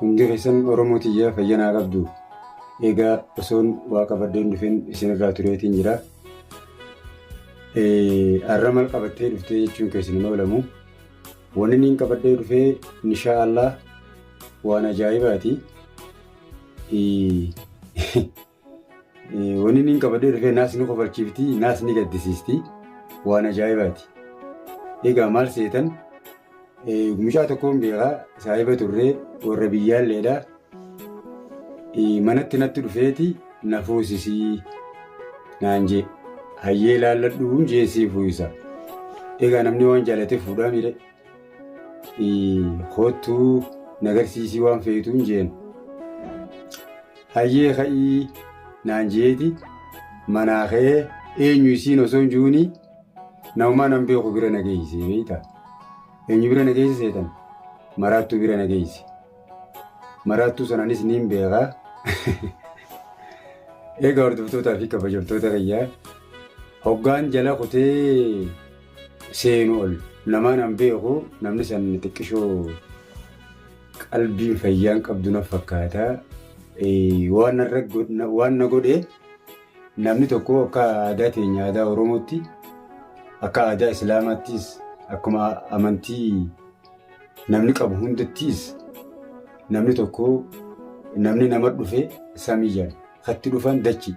Hundi keessan Oromoo tiyya fayya naa qabdu. Egaa osoon waa qabadheen dhufeen isinirraa tureetiin jira. Har'a maal qabattee dhuftee jechuun keessan hin oolamu. Wanni niin qabadhee dhufee inshaa Allah waan ajaa'ibaati. Wanni inni hin qabadee dhufee naas ni kofalchiifti, naas ni gaddisiisti. Waan ajaa'ibaati. Egaa maal seetan? Mucaa tokkoon beekaa saahiba turree warra biyyaalleedha. Manatti natti dhufeeti na fuusisii naan jee. Hayyee laalladhuun jeen sii fuusa. Egaa namni waan jaalatee fuudhaa miidhe. Kottuu nagarsiisii waan feetuun jeen. Hayyee ka'ii naan jeeti manaa ka'ee eenyu isiin osoo hin jiruuni namumaa nan beeku bira na geessee beekta. Eenyu bira na geessee seetan maraattuu bira na geesse. Maraattuu sanaanis niin beekaa. Egaa hordoftootaa fi kabajamtoota kiyyaa hoggaan jala kutee seenu ol namaan an beeku namni san xiqqishoo qalbiin fayyaan qabdu na fakkaata. Waan narra waan na godhe namni tokko akka aadaa teenya aadaa Oromootti akka aadaa Islaamaattis akkuma amantii namni qabu hundattis namni tokko namni nama dhufe samii jedhama. katti dhufan dachi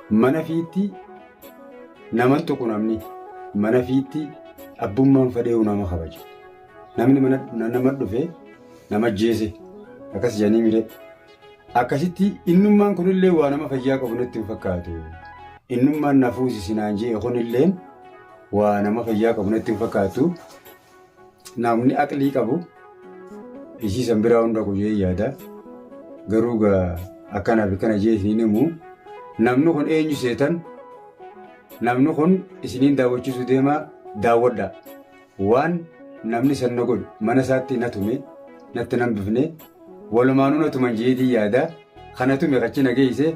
mana fiitti naman tuqu namni mana fiitti abbummaan fadheewu nama kabaja namni mana na- nama dhufe nama jeese akkas jedhanii mire akkasitti innummaan kunillee waa nama fayyaa qabu natti hin fakkaatu innummaan na fuusisi naan jee kunilleen waa nama fayyaa qabu natti hin fakkaatu Namni aqlii qabu isii san biraa hunda kuyee yaada. Garuu gaa akkana fi kana jee isiniin himu. Namni kun eenyu seetan? Namni kun isiniin daawwachiisuu deemaa daawwadhaa. Waan namni san na godhu mana isaatti na tume natti nan bifne walumaanuu na tuman jeetii yaada. Kana tume kachi na geeyse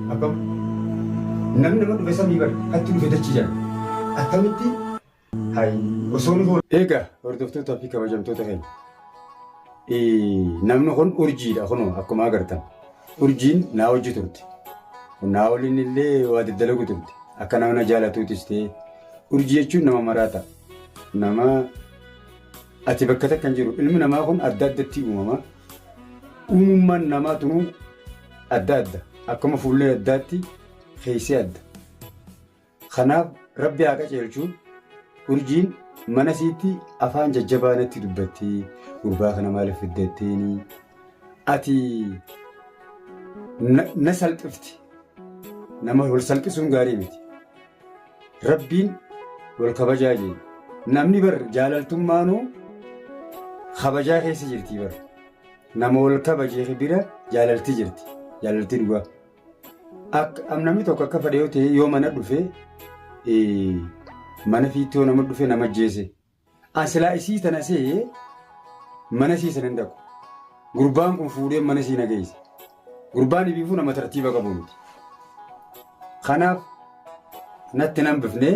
Akkam namni nama dhufe samii bar atti dhufe dachi jira attamitti hay osoo nu Egaa hordoftootaa fi kabajamtoota keenya namni kun urjiidha kun akkuma agartan urjiin naa hojii turte naa waliin illee waa daddalagu turte akka nama na jaalatuutis ta'e urjii jechuun nama maraata nama Ati bakka takka hin jiru. Ilmi namaa kun adda addatti uumama. Uumummaan namaa tunuu adda adda. Akkuma fuullee addaatti keessi adda. Kanaaf rabbi haa qaceelchu urjiin mana siitti afaan jajjabaa natti dubbatti gurbaa kana maaliif fiddatteeni ati na salphifti nama wal salphisuun gaarii miti. Rabbiin wal kabajaa jeen. Namni bar jaalaltummaanuu kabajaa keessa jirti bar. Nama wal kabajee bira jaalalti jirti. Jaalalti dhugaa. Akka am namni tokko akka fadhee yoo ta'e yoo mana dhufe eh, mana fiittoo nama dhufe nama ajjeese. An silaa isii tana se'ee mana sii sanan dhaqu. Gurbaan kun fuudhee mana sii nageessa. Gurbaan ibiifuu nama tartiiba qabu miti. Kanaaf natti nan bifnee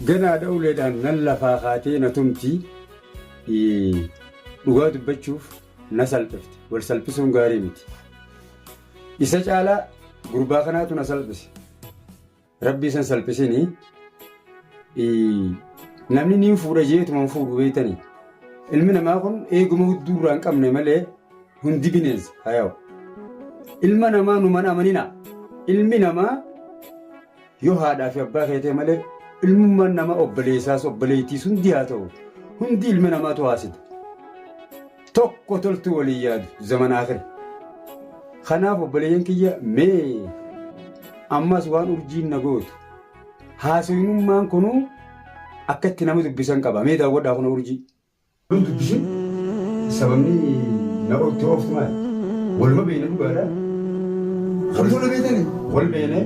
ganaadha uleedhaan nan lafaa kaatee na tumti. Dhugaa dubbachuuf na salphifte. Wal salphisuun gaarii miti. Isa caalaa gurbaa kanaatu na salphise. Rabbi isan salphisini namni niin fuudha jeetuma hin fuudhu beektanii ilmi namaa kun eeguma hudduu irraa hin qabne malee hundi bineensa hayaa'u ilma namaa numan amanina ilmi namaa yoo haadhaa fi abbaa keetee malee ilmummaan nama obboleessaas obboleettiis hundi haa ta'u hundi ilma namaatu haasita Tokko toltuu waliin yaadu zaman akhira. Kanaaf obboleeyyan kiyya mee ammas waan urjiin na gootu haasawinummaan kunuu akka itti nama dubbisan qaba mee daawwadhaa kuna urjii. dubbisuu sababni na ooftu ooftu maali? Waluma beeyna dhugaadha. Kan fuula beeytanii? Wal beeynee.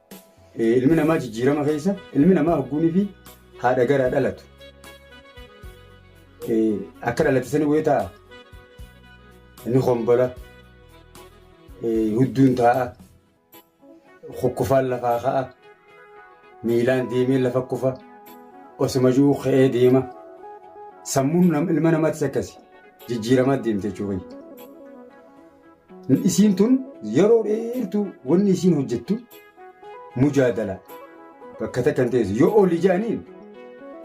Eh, Ilmi namaa jijjiirama keessa ilmi namaa hogguunii fi haadha garaa dhalatu. Eh, Akka dhalate sani wayii ta'a. Ni hombola. Eh, Hudduun taa'a. Kukkufaan lafaa ka'a. Miilaan deemee lafa kufa. Osuma jiru ka'ee deema. Sammuun nam- ilma namaatis akkasi. Jijjiiramaa deemte jechuudha. Isiin tun yeroo dheertuu wanni isiin hojjettu mujaadala bakka takka hin teessu. Yoo ol ijaaniin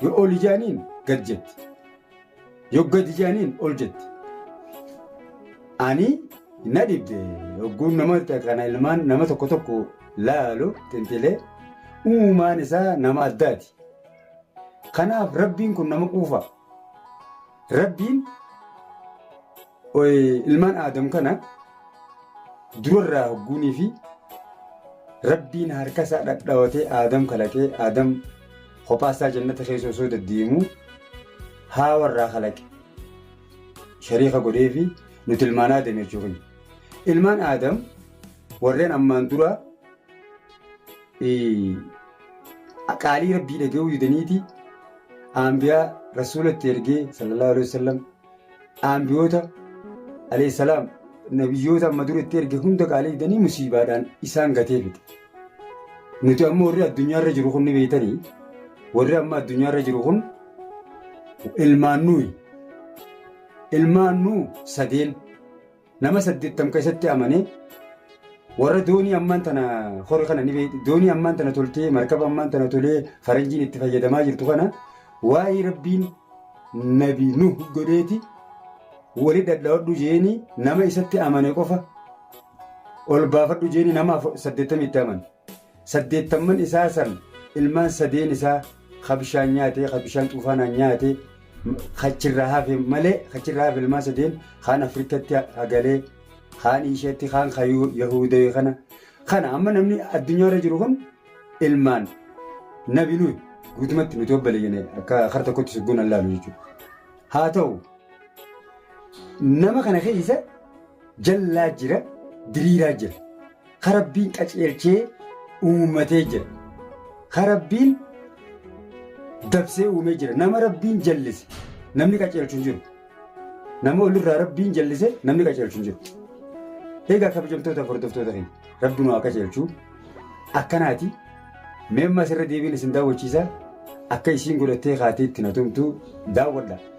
yoo ol ijaaniin gad jetti. Yoo gad ijaaniin ol jetti. Ani na dhibde yogguun nama kana ilmaan nama tokko tokko laalu xinxilee uumaan isaa nama addaati. Kanaaf rabbiin kun nama quufa. Rabbiin Ilmaan Aadam kana durarraa hogguunii fi rabbiin harkasaa dhadhaawatee Aadam kalaqee Aadam kophaasaa jannata keessa osoo deddeemuu haawarraa kalaqe shariika godhee fi nuti ilmaan Aadam jechuu keenya. Ilmaan Aadam warreen ammaan dura qaalii rabbii dhaga'uu didaniiti aanbiyaa rasuula itti ergee sallallahu alaihi wasallam Aanbiyoota alayhissalaam nabiyyoota amma dura itti erge hunda qaalii didanii musiibaadhaan isaan gatee fide. Nuti amma warri addunyaarra jiru kun ni beektanii warri amma addunyaarra jiru kun ilmaan nuyi. Ilmaan nuu sadeen. Nama saddeettam ka isatti amane warra doonii ammaan tana hori kana ni beekti doonii ammaan tana toltee markaba ammaan tana tolee faranjiin itti fayyadamaa jirtu kana waa'ee rabbiin nabi nuh godheeti wali dhadhawadhu jeeni nama isatti amane qofa ol baafadhu jeeni nama saddeettam itti amane. Saddeettamman isaa san ilmaan sadeen isaa ka bishaan nyaate, ka bishaan xuufaanaan nyaate, ka achirraa hafe malee, ka achirraa hafe ilmaan sadeen kaan Afrikatti hagalee, kaan Iishatti, kaan ka Yahuudawee kana. Kana amma namni addunyaarra jiru kun ilmaan nabi nuyi guutumatti nuti obbale jene akka kar tokkotti sugguun allaalu jechuudha. Haa ta'u nama kana keessa jallaa jira, diriiraa jira. ka Rabbiin qaceelchee uummatee jira. Ka Rabbiin dabsee uumee jira. Nama Rabbiin jallise namni qaceelchu hin jiru. Nama olirraa Rabbiin jallise namni qaceelchu hin jiru. Egaa kabajamtoota hordoftoota keenya Rabbi nu haa qaceelchu. Akkanaati mee amma asirra deebiin isin daawwachiisa akka isiin godhattee kaatee itti na tumtu daawwadha.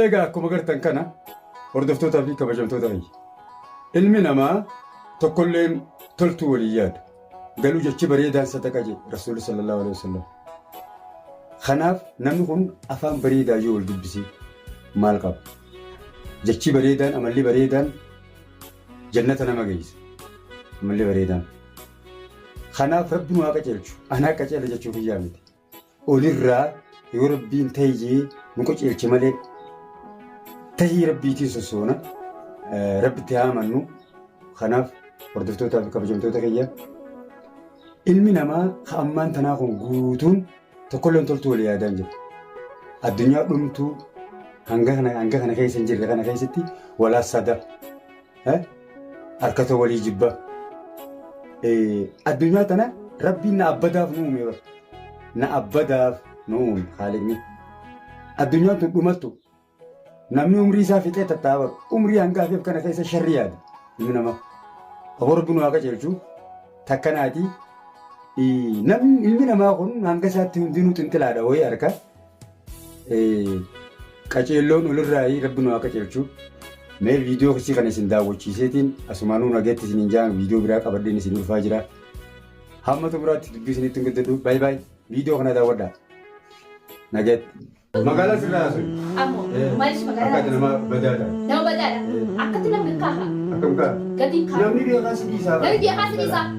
Eegaa akkuma gartan kana hordoftootaa fi kabajamtoota fayya. Ilmi namaa tokkolleen toltuu walii yaadu. Galuu jechi bareedaan sadaqa jedhe Rasuulli sallallahu alaihi wasallam. Kanaaf namni kun afaan bareedaa yoo wal dubbisee maal qaba? Jechi bareedaan amalli bareedaan jannata nama geessa. Amalli bareedaan. Kanaaf rabbi nu haa qajeelchu. Anaa qajeela jechuu kiyyaa miti. olirraa yoo rabbiin tahi jee nu qaceelche malee tahii rabbiitiin sossoona eh, rabbitti haa amannu kanaaf hordoftootaa fi kabajamtoota kiyya ilmi namaa ka ammaan tanaa kun guutuun tokkolleen toltuu walii yaadaan jira addunyaa dhumtuu hanga kana hanga kana keessa hin jirre kana keessatti walaassadaa Harkata walii jibba. Addunyaa tana rabbiin na abbadaaf nu uume bara. Na abbadaaf nu uume haaliqni. Addunyaan tun dhumattu namni umrii isaa fixee tatta'a bara. Umrii hanga hafeef kana keessa sharri yaada ilmi namaa. Aboo rabbi nu haa qajeelchu takkanaatii namni ilmi namaa kun hanga isaatti hundinuu xinxilaadha wayii harka. Qaceelloon olirraayi rabbi nu haa qaceelchu. Mee viidiyoo kisii kana isin daawwachiiseetiin asumaanuu nageetti isiniin jaan viidiyoo biraa qabadheen isin dhufaa jira. Hamma xumuraatti dubbii isinitti hin guddadhu. Baay baay. Viidiyoo kana daawwadhaa. Nageetti. Magaalaa sirraa haasa'u. Ammoo maaliif magaalaa Akka ati nama badaa ta'a. nama badaadha akkatti namni kaafa Akkam ka'a? gatiin kaafa Namni beekaa si dhiisaa namni biyya kaasa dhiisaa